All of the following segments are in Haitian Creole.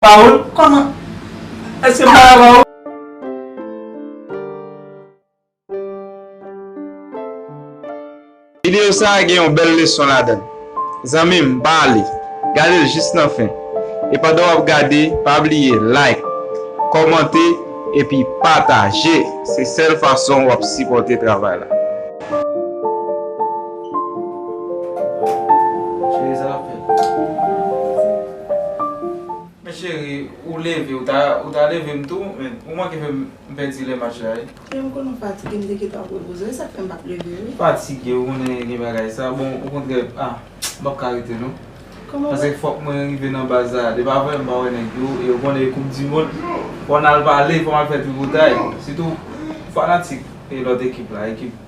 Paul koman eske mpa la Paul. Video sa gen yon bèl leson ladann zanmim pa ale gadel jis nan fen e pandan wap gade pa bliye like kòmante epi pataje se sèl fason wap sipòte travay la. Men cheri ou leve ou ta ou ta leve m tou men ou manke fè m pèdi lè match la wi. Frè m konnen w fatige m te gentan ap repoze w e sak fè m pap leve wi. Fatige ou konnen gen bagay sa bon okontrè ah m pap ka rete non Kòman sa? Paske fòk mwen rive nan baz la depi aprè m pa wè nèg yo e ou konnen e koup di mond fò n al pale fò m al fè tripotay sitou fanatik e lòt ekip la ekip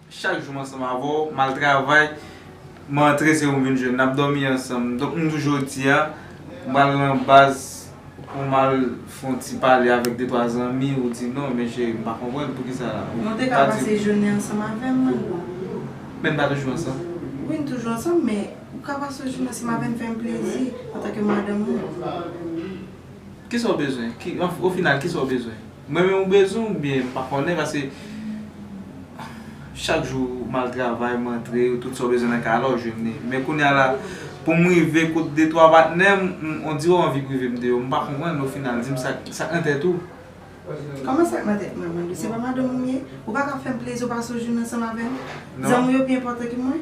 Chak jou m ansanm avè w, m al travay, m antre se ou m vin jwenn, n ap dòmi ansanm. Donk m di w jodi a, m pral nan baz pou m al fè yon ti pale avèk de twa zanmi, ou di non men cheri m pa konprann poukisa ou pa di. Nou te ka pase jounen ansanm avè m Manno. Men n pa toujou ansanm? Wi n toujou ansanm men ou ka pase yon jounen ansanm avè m fè m plezi antanke madanm ou. Kisa ou bezwen? O final kisa ou bezwen? M renmen w bezwen ou byen m pa konnen paske chak jou m al travay m antre tout sa w bezwen nan kay a la w jwenn li men kounya la pou m rive kot de twa patnè m on dirè w anvi prive m de yo m pa konprann o final di m sa k nan tèt ou. Kòman sa k nan tèt mwen Mandou se pa madanm ou m ye ou pa ka fè m plezi ou pa sou joune ansanm avè m zanmi w yo pi enpòtan ke mwen.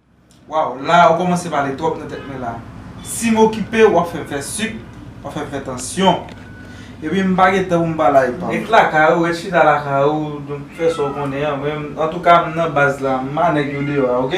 Waw la ou komanse pale trop nan tet mwen la sim okipew wap fem fe suk wap fem fe tansyon epi m pa gen tan poum pale ak pam. Ret lakay ou, ret chita lakay ou, donk fè sa ou konnen an, mwen antouka m nan baz la, m pa nèg yo deyò a ok.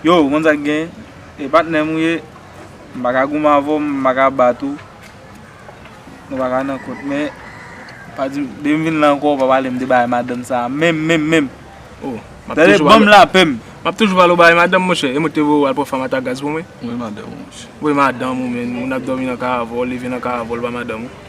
Yo, ou konn sa k gen? E patnè m ou ye, m pa ka goumen avè w, m pa ka bat ou, nou pa ka nan kont. Men, pa di m, depi m vin la ankò, ou pa pale m de bagay madanm sa a menm, menm, menm! O, m ap toujou pale. Tande, ban m lapè m! M ap toujou pale w bagay madanm, monchè. E m ou te voye w al pran fanm ata gaz pou mwen? Voye madanm ou, monchè. Voye madanm ou menm, moun ap dòmi nan ka avè w, leve nan ka avè w, l pa madanm ou.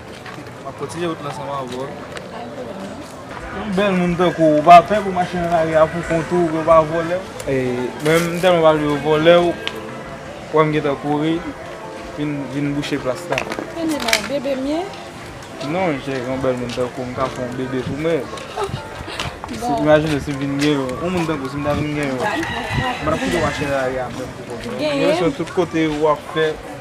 Map kontinye wout lan sanm avèw. Pa gen pwoblèm non. Yon bèl moun tankouw ou pa pè pou mache nan lari a pou kont ou, yo pa vòlèw? Mwen m tèlman pa vle yo vòlèw, wèm gentan kouri vin bouche plas la. Kenbe la, bebe mye? Non cheri, yon bèl moun tankouw m ka fè yon bebe pou mwen. Imajine sim vin gen yon, yon moun tankouw sim ta vin gen yon, m pa tap kite w mache nan lari a menm pou kont ou. Gen yon sèl tout kote wap fè.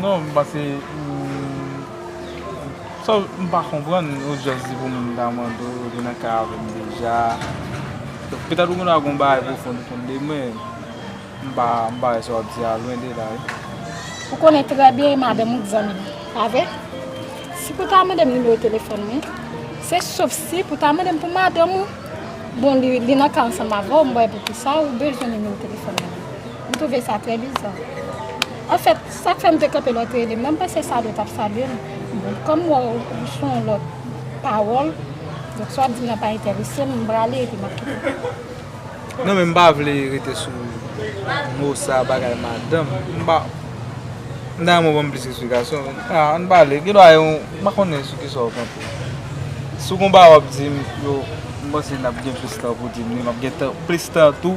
Non m panse m pa konprann ou just di pou moun ta mande w te nan kay avèm deja petèt ou gen dwa gen yon bagay pwofon ou konn de mwen m pa wè sa w ap di a lwen de la wi. Ou konnen trè byen madanm ou t zanmi m pa vre si pou ta mande m nimewo telefòn mwen se sof si pou ta mande m pou madanm ou bon li nan kay ansanm avè w m pa wè poukisa ou bezwen nimewo telefòn mwen. M twouve sa trè biza. Anfèt, sa k fè m te kanpe lè w te rele m nan, m panse Sado t ap salye m. Bon, kòm m wè w sou yon lòt pawòl, donk sa w ap di m nan pa enterese m, m prale epi m ap kite w. Non men m pa vle rete sou mo sa bagay madanm. M pa. M ta renmen w ban m plis esplikasyon. An n pale. Gen dwa yon. M pa konnen sou ki sa w kanpe. Si w gen yon bagay w ap di m, yo, m panse n ap gen plis tan pou di m li. M ap gen tan, plis tan tou.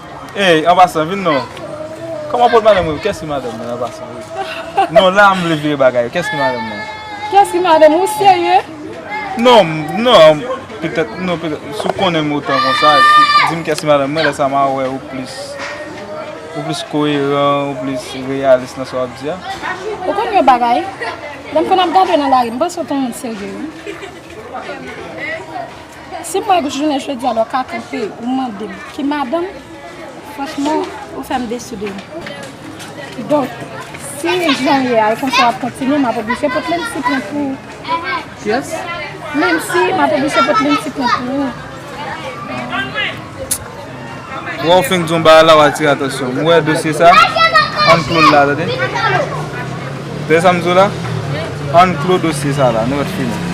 Ey an pasan vin non Koman pot madanm ou Kès ki madanm mwen an pasan wi Non la m vle vire bagay yo Kès ki madanm mwen Kès ki madanm ou serye Non non petèt non petèt si w konnen m otan konsa di m kès ki madanm mwen lè sa ma wè ou plis ou plis koyeran ou plis reyalis nan sa w ap di a Ou konn yon bagay lè m konn ap gade w nan lari m panse w t on moun serye wi Si mwen jounen jodi a lè w ka kanpe ou mande m ki madanm franchman ou fè m desi de ou. Donk si jan w ye a e konsa w ap kontinye m ap oblije pot menm ti plen pou ou. Yes. Menmsi m ap oblije pot menm ti plen pou ou. Wè w fenk di yon bagay la w atire atansyon m. Ou wè dosye sa? Ann klo l la tande. Tande sa m di w la? Ann klo dosye sa la nèt fini.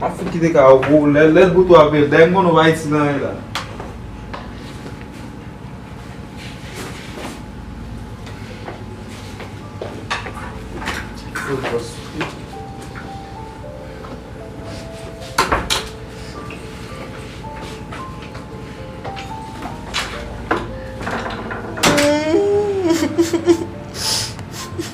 Map fout kite kay ou pou ou lè lèl pou tou aprel dèyè m konnen ou pa isit nan lè la.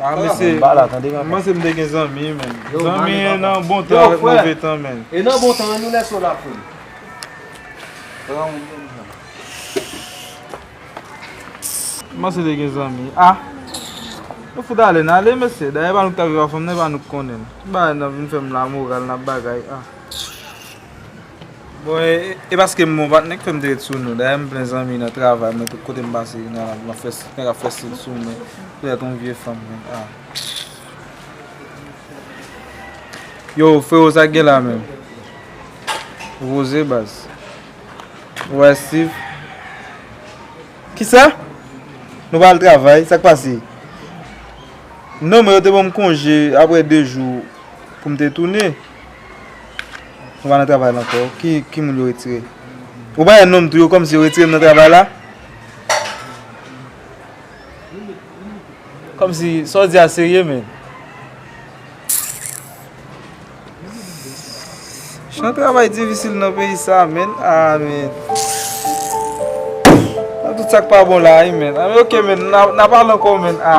Ah mesye m'panse m te gen zanmi menn Zanmi e nan bon tan ak move tan menn E nan bon tan an nou lè so la poul M'panse te gen zanmi a Nou fout ale n ale mesye Dayè e pa nou k ta viv avm nan e pa nou k konnen n Ki bagay nap vin fèm la moral nap bagay a. Bon e paske m bon patnè ki fè m te ret sou nou. Dayè m plen zanmi nan travay mwen tout kote m pase gen nèg kap fè stil sou mwen pou tèt yon vye fanm menm ah. Yo freo sa k gen la menm? Rose baz. Ou wè Steve? Kisa? Nou pa al travay? Sa k pase? Non men yo te ban m konje apre 2 jou pou m te tounen. Mwen pa nan travay la ankò. Ki moun yo retire? Ou pa wè non m tou yo kòmsi yo retire m nan travay la? Kòmsi sa w di a serye menn? Jan travay difisil nan peyi sa a menn. A menn. Nan tout sa k pa bon la a wi menn. A ok menn n a pale ankò menn a.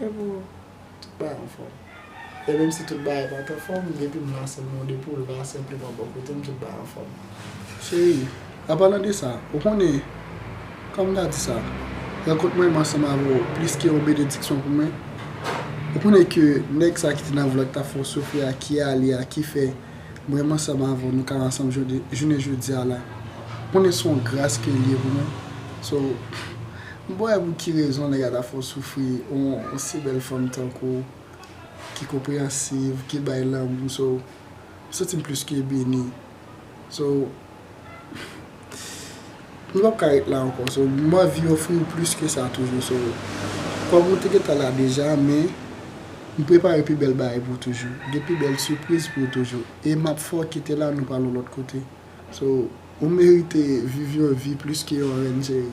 E pou tout bagay anfòm. E menm si tout bagay pat anfòm, depi m lanse m yon depo l va senpleman bò kote m, tout bagay anfòm. Cheri, anpalan de sa, ou konnen, kòm m ta di sa, rankont mwen menm ansanm avè w plis ke yon benediksyon pou mwen. Ou konnen ke nèg sa ki te nan vlòt la fè w soufri a, ki ale a, ki fè mwen menm ansanm avè w nou ka ansanm jounen jodi a la. Ou konnen se yon gras ke l ye pou mwen. So. M pa wè pou ki rezon nèg la ta fè w soufri yon si bèl fanm tankou w ki konpreyansiv ki bay lanmou so m santi m plis ke beni so m pap ka ret la ankò so m anvi ofri w plis ke sa toujou so kòm ou te gentan la deja men m prepare pi bèl bagay pou w toujou gen pi bèl sipriz pou w toujou e map fè w kite la nou pral yon lòt kote so ou merite viv yon vi plis ke yon rèn cheri.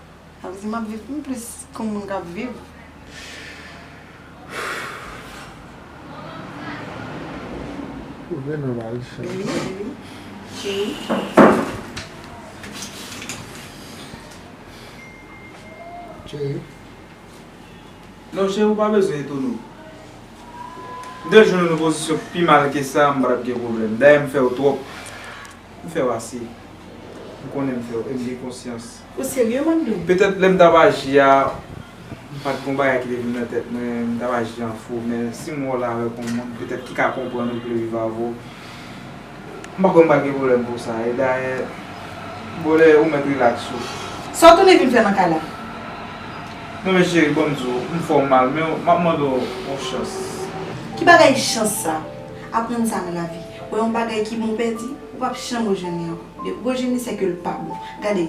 Sa vle di map viv m plis kon moun kap viv. Trouve nòmal chan. Wi wi cheri. Non cheri ou pa bezwen etone w. M te jwenn w nan pozisyon pi mal ke sa m pa tap gen pwoblèm. Dayè m fè w twòp. M fè w ase. M konnen m fè w e m gen konsyans. Ou serye Wandou? Petèt lè m t ap aji a, m pa t gen yon bagay ki te vin nan tèt mwen, m t ap aji an fou. Men si m wè w la avèk yon moun petèt ki ka konprann ou, ki vle viv avè w, m pa kwè m pa gen pwoblèm pou sa. E dayè, bon lè ou mèt rilaks ou. Sa w tounen vin fè nan kay la? Non men cheri, ban m di w, m fè w mal men m ap mande w yon chans. Ki bagay chans sa? Aprann sa nan lavi. Wè yon bagay ki bon ou pèdi, ou pap janm rejwenn li ankò. Depi ou rejwenn li se ke li pa bon. Gade,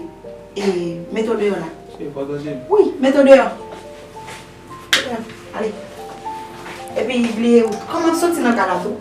e, mete w deyò la. Ou pa tande m? Wi, mete w deyò. Mete w deyò, ale. Epi bliye ou. Kòman soti nan kay la tou.